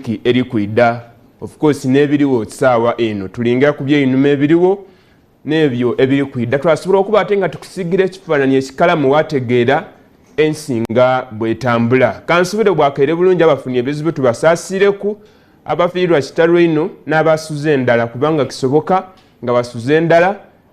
wiki eri kwida of course nebiriwo saawa eno tulinga ku byeinuma ebiriwo nebyo ebiri kwida twasobola okuba ate nga tukusigira ekifaananyi ekikalamu wategeera ensinga bwetambula kansubire bwakaire bulungi abafunye ebizibu tubasaasireku abafiirwa kitalo ino n'abasuze endala kubanga kisoboka nga basuze endala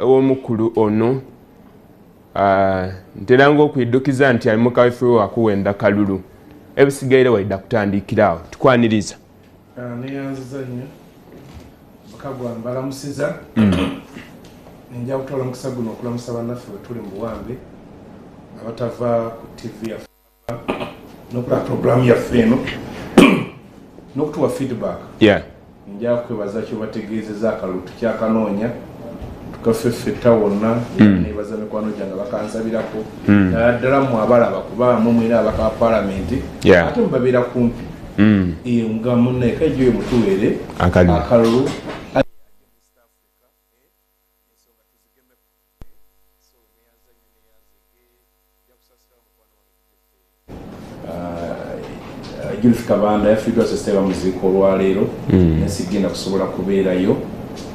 ew'omukulu ono ntera ngaokuiddukiza nti ali mukaweffe we wakuwenda kalulu ebisigaire waidda kutandiikira awo tukwaniriza ah, neyanziza nnyo kagwa mbalamusiza mm. nja kutwala omukisa guno okulamusa bannaffe bwe tuli mu buwambe abatava ku tv yaffe nokola program yaffe eno nokutuwa feedback yeah. nja kwebaza kyobategeezeza akalulu tukyakanoonya tukaffe ffetta wonna mm. nebaza mikwano gyange bakansabirako mm. naddala mu abalaba kubaamu mwina abaka palamenti ate mubabeera kumpi mm. nga munaeka ejo emutuweere akalulu Judith Kabanda yafiiriddwa sasita bamuziika olwaleero hmm. naye sigenda kusobola kubeerayo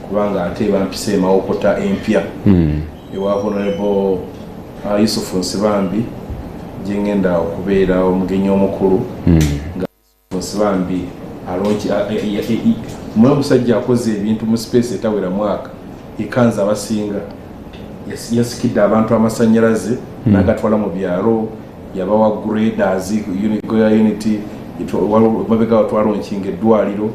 kubanga ate bampisa emawokota empya hmm. ewa honorable uh, Yusufu Nsibambi gyengenda okubeera omugenyi omukulu hmm. Nsibambi alonki a- e- e- e- e- mwe omusajja akoze ebintu mu space etawera mwaka ekanza abasinga Yas- yasikidde abantu amasanyalaze Hmm. nagatwala mu byalo yabawa graders uni- goya unity itwa- wal- mabega watwalonkinga eddwaliro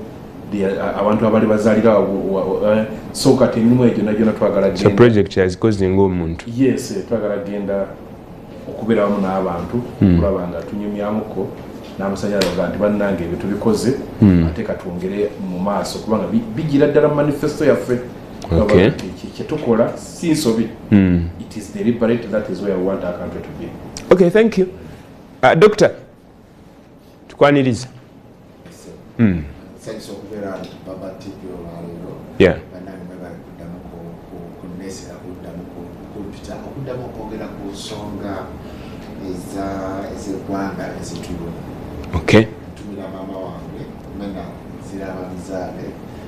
They are- a- abantu abali bazalira wa- wa- wa- eh, so kati emirimu egyo nagyona twagala so genda project yazikoze ng'omuntu yes eh, twagala genda okubeera wamu n'abantu hmm. okulaba nga tunyumyamuko n'amasanyalaze oga nti bannanga ebyo tubikoze hmm. ate katwongere mu maaso kubanga bigira ddala mu manifesto yaffe kyetukola si nsobi hmm. it is deliberate that is where we want our country to be okay thank you uh, doctor tukwaniriza hmm. okuddamu okwogera ku nsonga ezegwanga ezituluma ntumira maama wange mena ziraba bizaale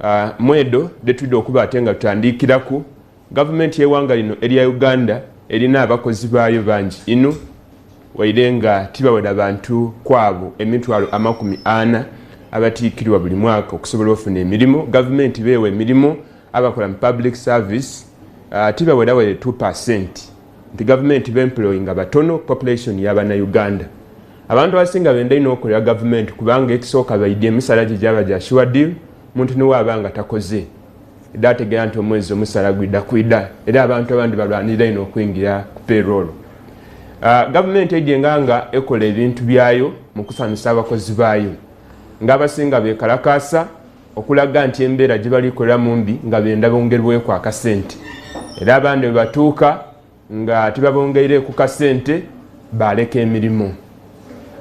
Uh, mwedo detwidde okuba ate nga tutandiikiraku gavumenti y'ewanga lino erya uganda erina abakozi baayo bangi inu waire nga tibawera bantu kwabo emitwalo amakumi ana abatiikirwa buli mwaka okusobola ofuna emirimu gavumenti beewa emirimu abakola mu public service uh, tibawerawere 2 percent nti gavumenti bemployinga batono population yabana uganda abantu abasinga benda ino okolera gavumenti kubanga ekisooka baidi emisala gye gyaba gya sure deal muntu niwaaba nga takoze edda ategera nti omwezi omusala gwida kwida era abantu abandi balwanirira ino okuyingira ku peroolo ah, gavumenti egenga nga ekola ebintu byayo mu kusanyusa abakozi baayo ng'abasinga bekalakaasa okulaga nti embeera gye balikoleramu mbi nga benda bongerweku akasente era abandi bwe batuuka nga tebabongeire ku kasente baleka emirimu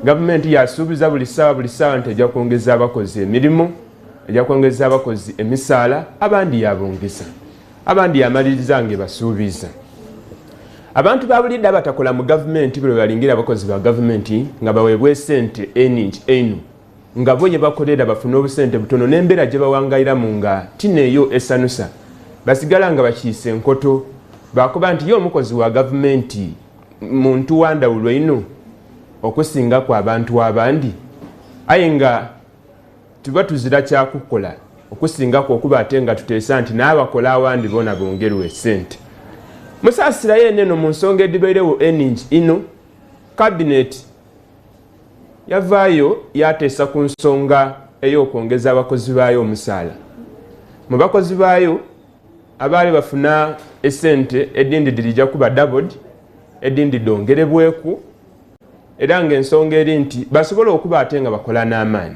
gavumenti yasuubiza buli ssaawa buli ssaawa nti ejja kwongeza abakozi emirimu ejja kwongeza abakozi emisaala abandi yabongeza abandi yamaliriza nga ebasuubiza abantu babulidde abatakola mu gavumenti buli webalingira abakozi ba gavumenti nga baweebwa esente eningi enu nga bo ye bakolera bafune obusente butono n'embeera gye bawangayiramu nga tineeyo esanusa basigala nga bakiise enkoto baakuba nti ye omukozi wa gavumenti muntu wandawulo ino okusinga ku abantu abandi aye nga tuba tuzira kyakukola okusingako okuba ate nga tuteesa nti n'abakola awandi bona bongerwa esente musaasirayo eno eno mu nsonga edibairewo eningi ino kabineti yavaayo yateesa ku nsonga ey'okwongeza abakozi baayo omusaala mu bakozi baayo abaali bafuna esente edindi dirija kuba dabod edindi dongerebweku era ngaensonga eri nti basobola okuba ate nga bakola n'amaanyi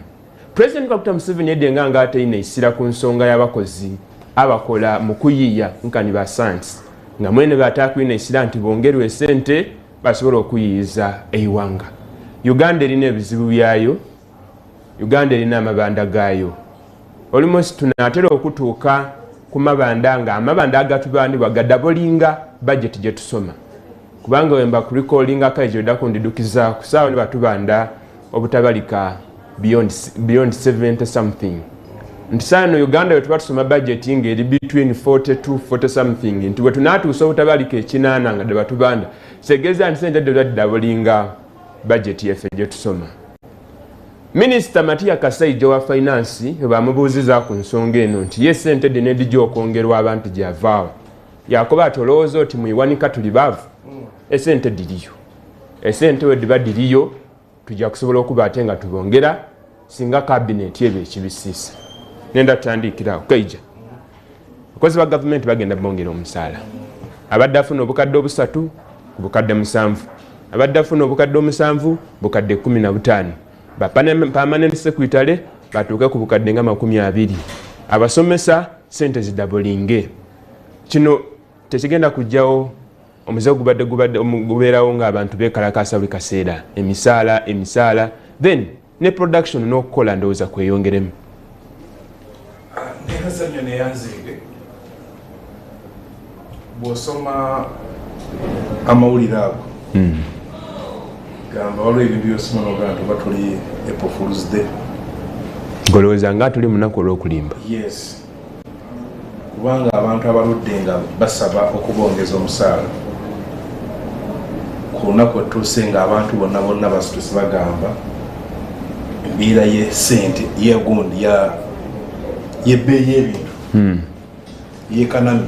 president kakuta museveni yedde nga nga ateina isira ku nsonga y'abakozi abakola mu kuyiiya nkani basansi nga mwene batakuina isira nti bongerwa esente basobola okuyiyiza eiwanga uganda erina ebizibu byayo uganda erina amabanda gaayo olimusi tunatera okutuuka ku mabanda nga amabanda agatubanibwa gadabolinga bajeti gyetusoma kubanga wemba kulikolingako ejo odakundidukiza kusaawa nibatubanda obutabalika beyond, beyond 70 something nti saano uganda wetuba tusoma budget nga eri between 40 to 40 something nti wetunatuusa obutabalika ekinaana nga debatubanda segeza nti sente dodaddabulinga budget yaffe gyetusoma minisita matiya kasaija wa finance webamubuuziza ku nsonga eno nti ye sente dina edija okwongerwa abantu gyavaawo yakuba ati olowooza oti muiwanika tuli baavu esente diriyo esente wediba diriyo tujja kusobola okuba ate nga tubongera singa kabineti ebyo ekibisiisa nenda tutandiikirawo kaija abakozi ba gavumenti bagenda bongera omusaala abadde afuna obukadde obusatu ku bukadde musanvu abadde afuna obukadde omusanvu bukadde kumi na butaano bapamanent sekwitale batuuke ku bukadde nga makumi abiri abasomesa sente zidabulinge kino tekigenda kujjawo omuze gubadde gubadde gubeerawo ngaabantu bekalakaasa buli kaseera emisaala emisaala then ne production n'okukola ndowooza kweyongeremu nezanyo neyanzeege bwosoma amawulire ago hmm. gamba waliwo ebintu byosoma nogaa nti oba tuli epofuluzde ngolowooza nga tuli munaku olwokulimba yes kubanga abantu abaludde nga basaba okubongeza omusaala ku lunaku etuuse nga abantu bonna bonna basitusi bagamba embeera ye sente yegundi yebbeeyi ebintu hmm. yekanami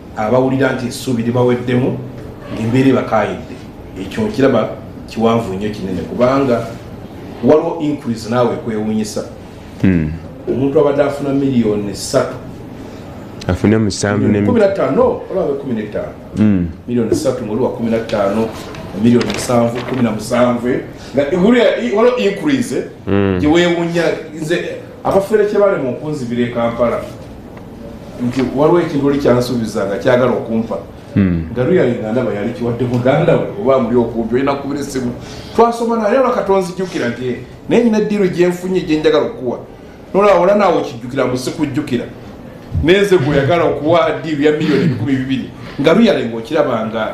abawulira nti essuubi libaweddemu ng'embeera ebakaayidde ekyo nkiraba kiwanvu nnyo kinene kubanga waliwo increase naawe kwewunyisa hmm. omuntu abadde afuna miliyoni satu afune musanvu kumi nataano olaba kumi netaano hmm. miliyoni satu ngaoliwa kumi nataano miliyoni musanvu kumi na musanvu eh? nga waliwo increase hmm. gyewewunya nze abafere kyebalema okunzibira e kampala nti waliwo ekintu oli kyansuubiza nga kyagala okumpa hmm. nga luyali nga ndaba yali kiwadde muganda we oba muli okumpi olina kubira esimu twasoma naye olwa katonzijukira nti eh, naye nyina eddiiru gyenfunye gyenjagala okukuwa nolaba ola naawe okijjukira mbu sikujjukira nenze gwe oyagala okuwa ddiiru ya miliyoni ebikumi bibiri nga luyali ngaokirabanga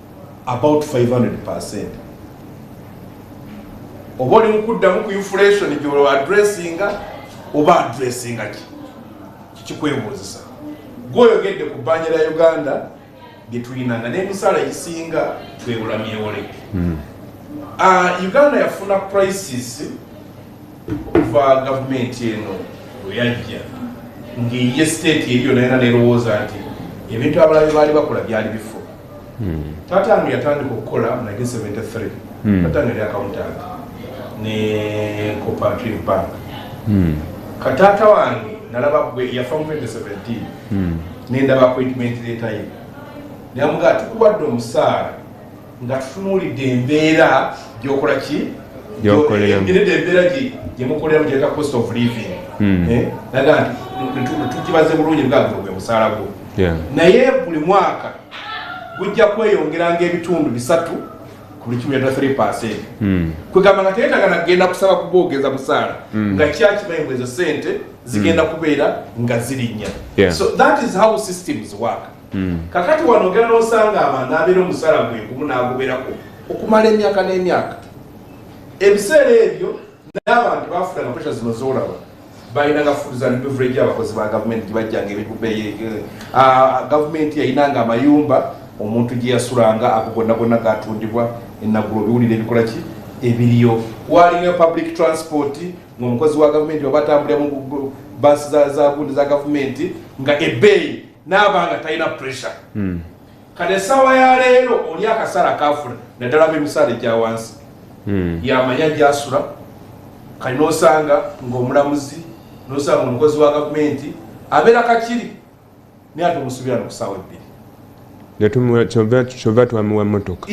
about 500 oba oli mukuddamu ku inflation gyolo adressinga oba adressinga ki kikikwebuuzisa gwoyogedde ku bbanja lya uganda lyetulina nga n'emisala egisinga twewula myewole hmm. ah, uganda yafuna crisis okuva gavumenti eno lweyajja ng'eye state eri yona yona nerowooza nti ebintu abalabe baali bakola byali bifu Hmm. Tata ange yatandika okukola mu 1973. Hmm. Tata ange yali accountant ne Cooperative Bank. Hmm. Katata wange nalaba gwe yafa mu 2017. Hmm. Nenda ba appointment letter ye. Namuga tukubadde omusaala nga tutunulidde embeera gyokola ki? Gyokolera. Embeera embeera gye gye mukolera mu gyeta cost of living. Hmm. Eh? Naga nti tukibaze bulungi nga gwe musaala gwo. naye buli mwaka gujja kweyongera ngaebitundu bisatu buli kimu yadda 3 percent hmm. kwegamba nga teyetaga nagenda kusaba kubogeza busaala hmm. nga kyakimanyi ezo sente zigenda hmm. kubeera nga zirinya so that is how systems work kakati wano ogenda nosanga abantu abeera omusala gwegumu naguberako okumala emyaka n'emyaka ebiseera ebyo n'abantu bafuna nga pesha zino zolaba balinanga fudu za beverage abakozi ba gavumenti gyebajjanga ebikubeye ah, gavumenti yalinanga amayumba omuntu gyeyasulanga ago gonna gonna gatundibwa enagulo biwulire ebikola ki ebiriyo waliyo public transport ngaomukozi wa gavumenti oba atambulira mu basi za gundi za gavumenti nga ebeeyi naabanga talina pressure hmm. kale esawa ya leero oli akasala kafuna naddala bemisaala egya wansi hmm. yamanya gyasula kali nosanga ngaomulamuzi nosanga omukozi wa gavumenti abeera kakiri naye ate omusubira nokusaawa ebbiri kyova twamiwa motoka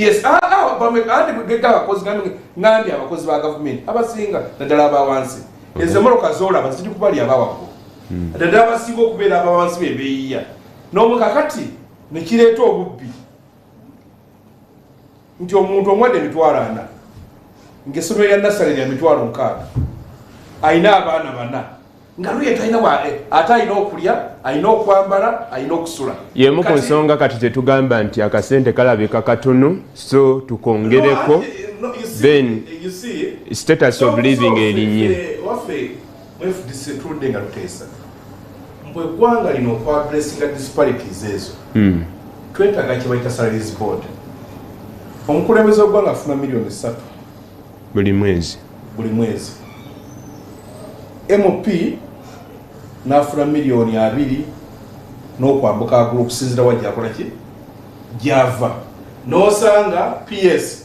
ngambi abakozi ba gavumenti abasinga naddala abawansi ezo emoroka zolaba ziri kubali abawago hmm. naddala abasinga okubeera abawansi bebeyiya nomukakati nekireeta obubbi nti omuntu omwadde emitwalo ana ngaesomero lya nasale lya mitwalo mukaaga alina abaana bana nga luye talina eh, ate alina okulya alina okwambala alina okusula yemu ku nsonga kati tetugamba nti akasente kalabika katunu so tukongereko then eh, status of living erinye mwefuddise tuludde nga tuteesa mbu eggwanga lino okwadressinga disparities ezo hmm. twetaaga kyebayita salaries board omukulembeze w'eggwanga afuna miliyoni ssatu buli mwezi buli mwezi mp n'afuna miliyoni abiri n'okwambuka agulu okusinzira wa gyakola ki gyava n'osanga ps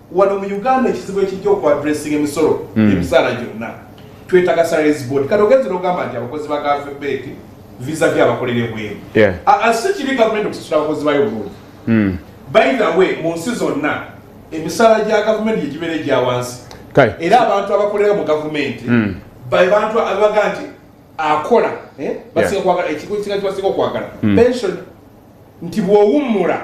wano mu uganda ekizibu ekijja okuadressing emisolo hmm. emisaala gyonna twetaga salaries board kati ogenzi nogamba nti abakozi ba gavumenti visa vy abakolera ebweru si kibi gavumenti okusasula abakozi bayo bulungi hmm. by the way mu nsi zonna emisaala gya gavumenti gyegibeera egya wansi era abantu abakolera mu gavumenti hmm. bebantu abaga nti akola eh, basinga kwagala ekigo kisinga kibasinga okwagala pension nti bwowummula